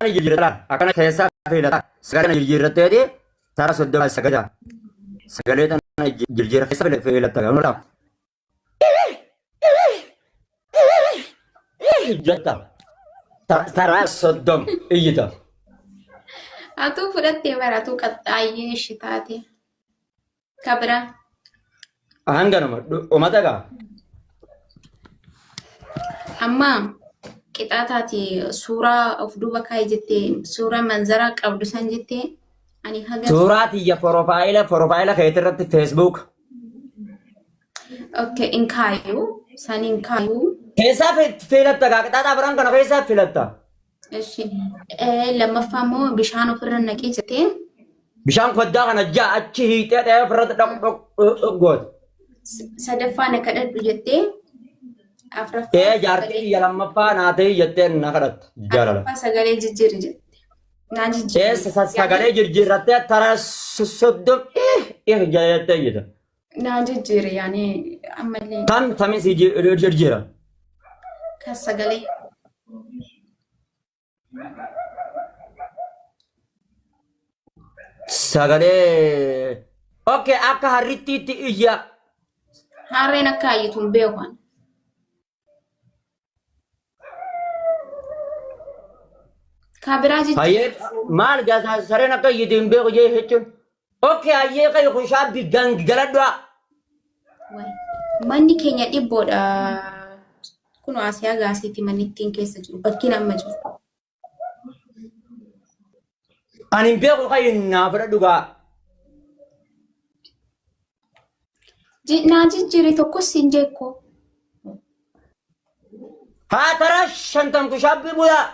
Akkana jijjiirrataa akkana keessaa filataa sagalee kana jijjiirratteeti tara soddoma sagalee sagalee tana jijjiirra keessa fila- filatta gamoo laaf. Jetta Ta- tara soddom iyyita. Atuu fudhattee bara atuu qaxxaayyee ishi taate. Ka biraa. Hanganuma dhumata gaa. Amma qixaataati suuraa of duuba kaa'e jettee suuraa manzaraa qabdu san jettee ani haga Suuraa tiyya porofaayila porofaayila keetii irratti feesbuuk. okke hin kaayu san hin kaayu Keessaa fi- filatta gaa qixaataa biraan kana keessaa filatta. Eshi. Lammaffaa immoo bishaan ofirra naqii jetee. Bishaan koddaa kana ja'a achi hiixee dhahee ofirratti dhaq dhaq dhaq goote. Sadaffaa na kadhadhu jettee. Afraffaa Ee jaartii sagalee- biyya lammaffaa naa ta'e jetteen na kadhatta jaalala. afraffaa sagalee jijjiiri jette. Naa jijjiiri. Ee sa- sa- sagalee jirjiirrattee tara so- soddom eh eh jettee jetta. Naa jijjiire yaani ammallee Tam tamin si jirjira. kan sagalee. Sagalee. Okay akka harrittiitti iyya. Harreen akka hayyituun beekan. Kaa biraa jechuun. Hayyee maal gaasaa sareen akka iyyiti hin beeku jee jechuun. Okkee hayyee qabi kun shaabbi galadhaa. Waay. Manni keenya dhibboodha. Kun Asiyaa gaasiiti manni ittiin keessa jiru. Bakkiin amma jiru. Ani hin beeku kayin naa fudha dhugaa. Ji- Naa jijjiiri tokkos siin jeekko. Haa taraa shantam kushaabbii bu'aa.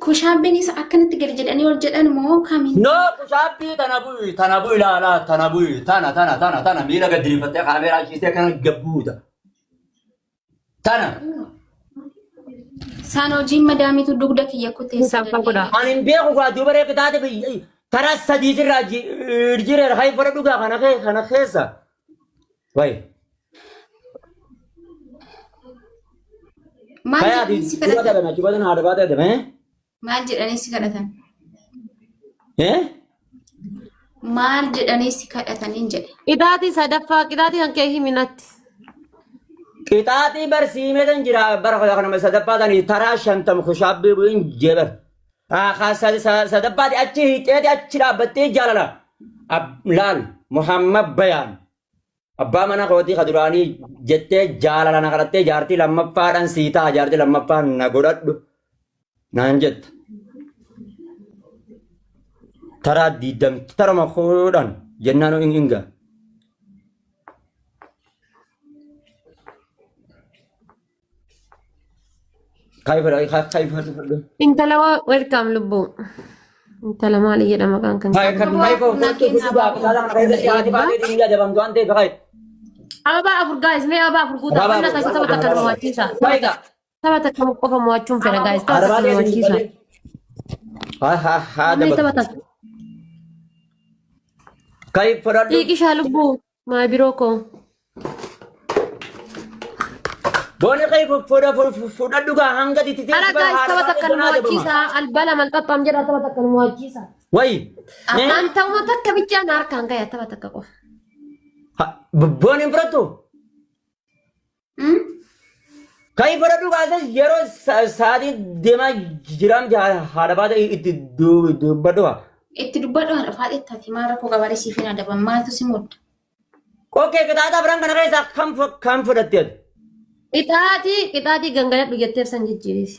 Kushaabbiinis akkanatti gadi jedhanii ol jedhan moo kamiin? No kushaabbii tana bu'i tana bu'i laalaa tana bu'i tana tana tana tana miila gad diriirfattee kaameeraa ciistee kana gabbuuta. Tana Saan hojiin madaamiitu dugda kiyya kutee Isa abbaa godhaa. an hin beeku kaa duuba reeqa taate biyya taraa sadii sirraa jireera kan fara dhugaa kana kee kana keessa. Wayi. Maal Kaya jedhanii si duuba kadhatan? dhabame achi badan haadha baatee dhabame. Maal jedhanii si kadhatan? Eh? Maal jedhanii si kadhataniin jedhe? Qixaatii sadaffaa qixaatii kan kee himinatti. Qixaaxii barsiimee tan jira bara kudha kanama sadaffaa tan taraa shantam kushaabbii bu'in jebar. Sadaffaati achi hiixeeti achi dhaabbattee jaalala. Ab- Laal Muhammad Bayaan. Abbaa mana kootii ka duraanii jettee jaalala na kadhattee jaartii lammaffaadhaan sii ta'a jaartii lammaffaan na godhadhu naan jetta. Taraa diidam tarama kudhan jennaan in inga. Intala waa welkaam lubbuu. Intala maali jedhama kan kan. Ababaa afur gaayis mee ababaa afur guutaa Ababaa wanna afur, taasisu taphata kan mo'achiisa. Taphata taphata kan qofa mo'achuun fedha gaayis taphata kan mo'achiisa. Namni taphata xiiqishaa lubbuu. My biro ko. Boona kee fodha fudhadhu gaa hanga itti Ala guys taba takkan mo'achiisa. Albala man xaxxam jedha taba takkan mo'achiisa. Wayi. An ta'uma takka bichaa na harkaan gaya taba takka qofa. Boona hin fudhattu. Kan hin fudhadhu kaasas yeroo sa- sa'aatii deemaa jiraam haadha baata itti du- dubbadhu haa. Itti dubbadhu haadha faaxee taati maal rakkoo qabaaree siif hin adaban maaltu si mudda. Okkee qixaataa biran kana keessaa kam fu- kam fudhatte ati? Qixaatii qixaatii gangaladhu jetteef san jijjiiriisi.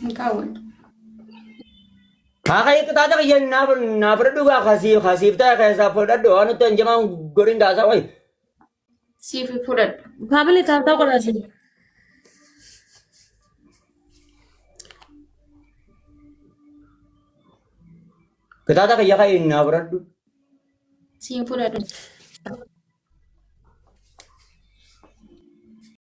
Hin kaawwannu. Kaaka iqxaata kiyya naaf naaf fudhadhu gaa kasiif kasiif ta'e keessaa fudhadhu waan nutti hin jamaan goriin gaasaa wayi. Siif fudhadhu. Faamilii taatoo godhaa siin. Qixaata kiyya ka'e naaf fudhadhu. Siin fudhadhu.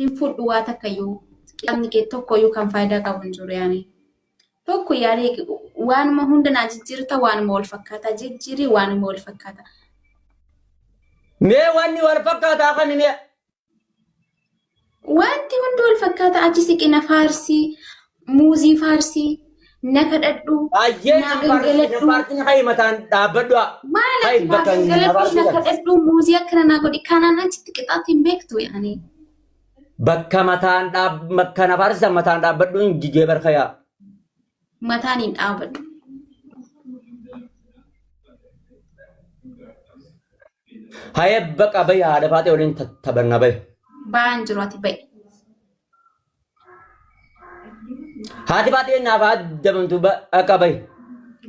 hin fudhu waa takkayyuu kitaabni kee tokkoyyuu kan faayidaa qabu hin jiru yaani tokko yaani waanuma hunda naa jijjiirta waanuma wal fakkaata jijjiirii waanuma wal fakkaata Mee wanni wal fakkaataa kan mee wanti hundi wal fakkaata achi siqina faarsii muuzii faarsii na kadhadhu Ayyee naa na faarsi na gangaladhu faarsi na hayi mataan dhaabbadhu haa. maal Hayi ati naa bakka na gangaladhu na faarsi kana. kadhadhu muuzii akkana naa godhi kanaan achitti qixaatti hin beektu yaani Bakka mataan dhaab bakka na faarsi san mataan dhaabbadhu hin jijee barka yaa. mataan hin dhaabadhu Hayi bakka bayi haadha faatee waliin taphanna bayi. ba'aan jiru ati ba'i Haati baatee naaf haa dabamtu ba- akka bahi.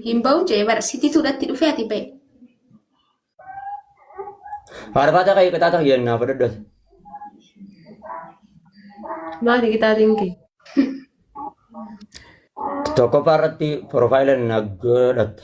Hin ba'u jee bara sitii tuudhatti dhufee ati ba'e. Faarfaataa ka'ee qixaata kiyya naaf dhadhoote. Maali qixaatiin kee? Tokkoffaa irratti piroofaayila na godhatta.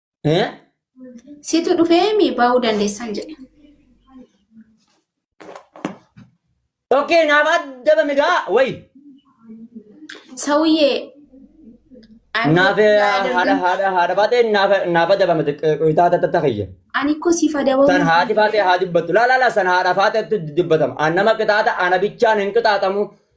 Eh? Situ dhufeemi baa'uu dandeessan jedhe. Okay, naaf adda bami gaa way. Sawuyyee. I'm Naaf not eh, haadha gathered. haadha haadha baatee naaf naaf adda bami xiqqaa tatta takayya. Ani koo siif adabamuu. San haati faatee haa dubbattu. Laa laa laa san haadha faateetti dubbatama. An nama qixaata ana bichaan hin qixaatamu.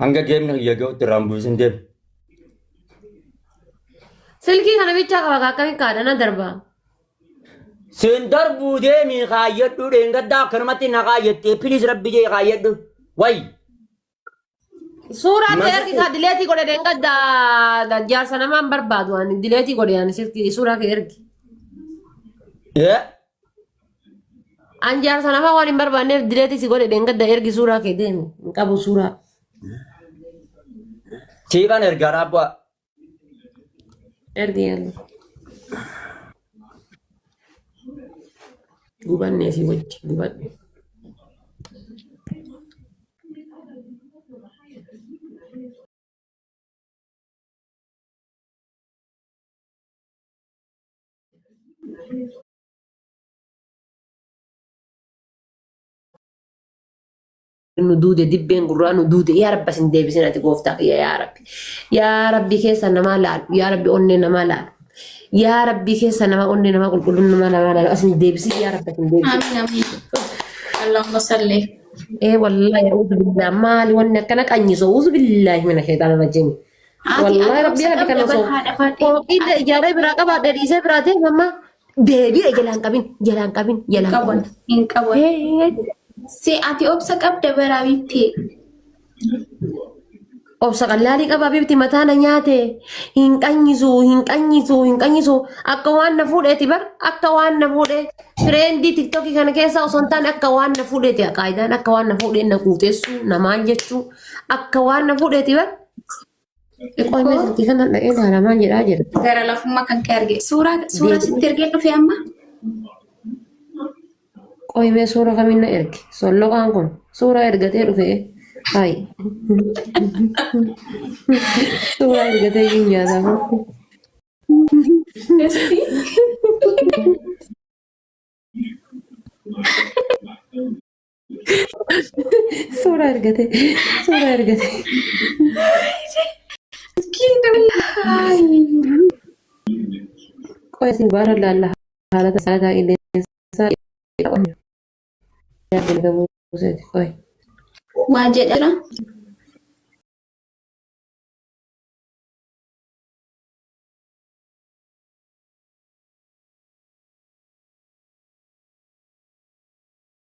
Hanga geemni kiyya gahutti irraa hin bu'isin deemi. Silkii kana bichaa qaba kaa akkamitti kaadhana darbaa. Siin darbuu deemii kaayyadhu dheengaddaa akkanumatti na kaayyattee piliis rabbi jee kaayyadhu. Wayi. Suuraa kee ergi kaa dileetii godhe dheengadda jaarsa namaan barbaadu ani dileetii godhe ani silkii suuraa kee ergi. Ee An jaarsa namaa waan hin barbaanneef dileetii si godhe dheengadda ergi suuraa kee deemi. Hin qabu suuraa. Siifan ergaa raabbu'aa. Ergi ergi. Gubannee si wajji gubadhu. nu duude dibbeen gurraa nu duude yaa rabbi sin deebisin ati gooftaa kiyya yaa rabbi yaa rabbi keessa namaa laalu yaa rabbi onnee namaa laalu yaa rabbi keessa namaa onnee namaa qulqulluun namaa namaa laalu asin deebisin yaa rabbi sin deebisin Amin amin. Allahumma salli. ee wallaahi a'uuzu billaa maali wanni akkana qanyiso a'uuzu billaahi mina sheexaana rajimi Haati Wallahi ani rabbii obsa haadha kana qabda bar osoo haadha faadhe. fooqii Ati ijaaree biraa qabda. qabaadhe dhiisee biraa ta'e mamma deebi'e jalaan qabin jalaan qabin Hin jalaan qaban. qabin. Hin qaban. Hee Si ati obsa qabda bara bittee. obsa qallaalii qabaa bibti mataa na nyaate hin qanyisu hin qanyisu hin qanyisu akka waan na fuudheeti bar akka waan na fuudhe fireendii tiktokii kana keessa osoo hin taane akka waan na fuudheeti qaayidaan akka waan na fuudheen na quuteessu na maal jechuu Akka waan na fuudheeti bar. Qoy mee silkii kana dha'ee ilaala maal jedhaa jedhu. Gara lafummaa kan kee arge. Suuraa suuraa sitti ergee dhufe amma. Qoy mee suura kamiin na erge. Solloqaan kun suura ergatee dhufe. Hayi. Suura ergatee hin nyaataa. Suura argate. Suura argate. Qoya isin baara laalla haala tasaataa qilleensaa yaadni qabuu seeti qoya. Waa jedha jira.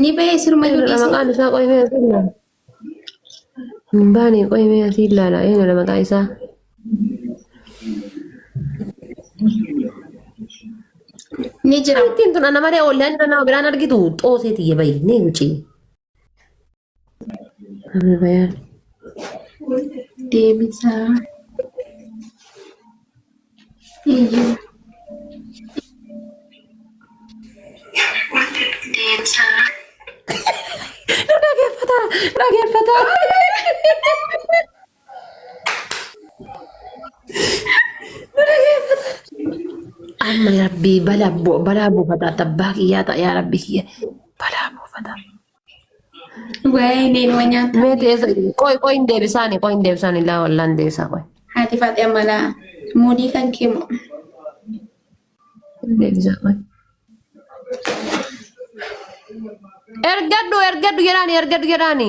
Ni ba'ee sirma Eenyu dha maqaan isaa qoyimee asii ilaala. Hin baane qoyimee asii ilaala. Eenyu dha maqaa isaa? Ni jira. Ittiin tun ana malee ollaan nama biraan argitu xoosee tiyya bayi ni wucii. Abebayaan. Deebisaa. Iyyuu. Deebisaa. Nu dhaggeeffata! Nu dhaggeeffata! Nu dhaggeeffata! Amma rabbii balaa bu- balaa buufataa tabbaa kiyyaa ta'a yaa rabbi kiyya balaa buufataa. Waa'ee neenuma nyaata. Mee teessa qoy qoy hin deebisaani qoy hin deebisaani laa wallaa hin deebisaa qoy. Haati faaxee ammalaa muudii kan kee moo. Hin deebisaa qoy. Ergadhu ergadhu jedhaani ergadhu jedhaani.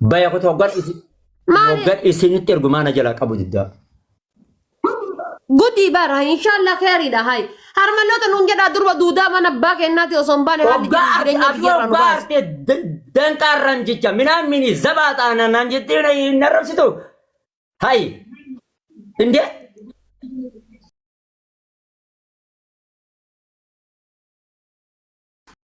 Baya kutu hoggan isin Maali? hoggan isinitti ergu maana jalaa qabu diddaa. Gudii bara inshallah kheeridha hay. Harmaloota nuun jedhaa durba duudaa mana abbaa kennaati osoo hin baane haalli Hoggaa jiru jireenya ati biyyarraa nu hoggaa baase. arte danqaarraan jecha minaan mini zabaa taanaan naan jettee na hin arrabsitu. Hay. Indee.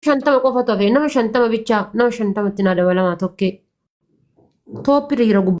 shantama qofatu hafe nama shantama bichaa nama shantamatti naa dabalamaa tokkee tooppi dhiira gubbaa.